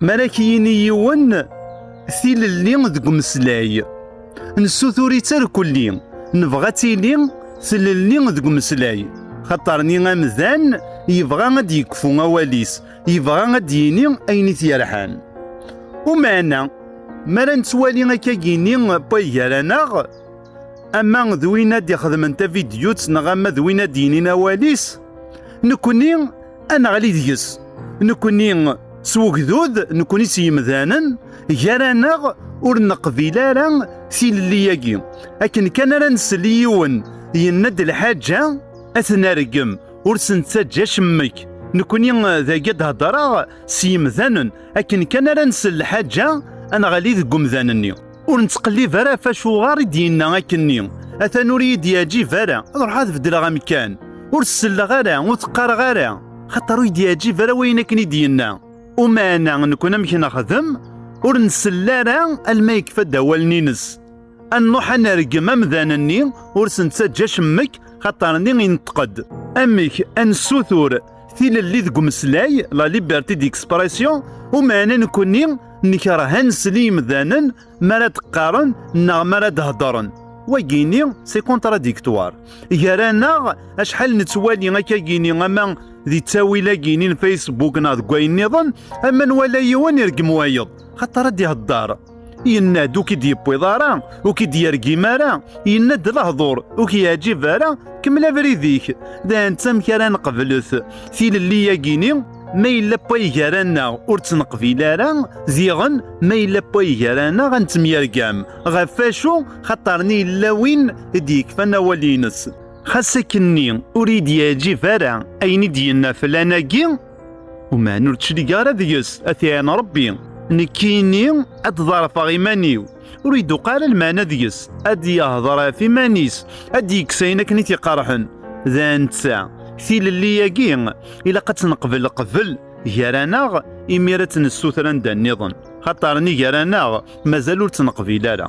Mi ara k-yini yiwen tilelli deg umeslay, nessutur-itt ar kulli, nebɣa ad tili tlelli deg umeslay. Xaṭer ni amdan yebɣa ad d-yekfu awal-is, yebɣa ad d-yini ayen i t-yerḥan. Umeɛna, mi ara nettwali akka yini Pay gar-aneɣ, ama d win ad d-ixedmen tavidyut neɣ ama d win ad d-yinin awal-is, nekkni, ad neɣli deg-s nekkni s ugdud nekkni s yimdanen gar-aneɣ ur neqbil ara tilelli-agi akken kan ara nsel i yiwen yenna-d lḥaǧa ad ten-argem ur sen-ttaǧǧa cemmek nekkni dagi ad hedreɣ s yimdanen akken kan ara nsel lḥaǧa ad neɣli deg umdan-nni ur nettqellib ara ɣef acuɣer i d-yenna akken-nni atan ur iyi-d-yeɛjib ara ad ruḥeɣ ad beddleɣ amkan ur selleɣ ara ur teqqareɣ ara xaṭer ur iyi-d-yeɛjib ara wayen akken i d-yenna umaɛna nekun amek nexdem ur nsell ara alma yekfa-d awalen-ines ad nruḥ ad nergem amdan-nni ur s-nettaǧǧa acemmek xaṭer-nni ineṭṭeq-d amek ad nessutur Tilelli deg umeslay, la liberté d'expression, umeɛna nekkni nekreh ad nsel i yimdanen mi ara d-qqaren neɣ mi ara d-heddren. Wagini, c'est contradictoire. Gar-aneɣ, acḥal nettwali akkagini ama di ttawil-agini n Facebook neɣ deg wayen-nniḍen, ama nwala yiwen ireggem wayeḍ, xaṭer ad d-ihedder. yenna-d ur k-id-yewwiḍ ara ur k-id-yergim ara yenna-d lehdur ur k-yeɛjib ara kemmel abrid-ik d anta amek ara neqblet tilelli-yagini ma yella wayg gar-aneɣ ur tt-neqbil ara diɣen ma yella wayg gar-aneɣ ad nettemyergam ɣef wacu xaṭer-nni yella win i d-yekfan awal-nnes xas akkenni ur yi-d-yeɛjib ara ayen i d-yenna flan-agi Uman ur d-clig ara deg-s, a t-iɛin Rebbi. Nekkini ad d-ḍerfeɣ iman-iw, ur iduq ara lmeɛna deg-s, ad d-yehder ɣef iman-is, ad d-yekkes ayen akken i t-iqerḥen. D netta, tilelli-agi, ilaq ad tt-neqbel qbel gar-aneɣ, imir ad tt-nessuter anda nniḍen, xaṭer ni gar-aneɣ mazal ur tt-neqbil ara.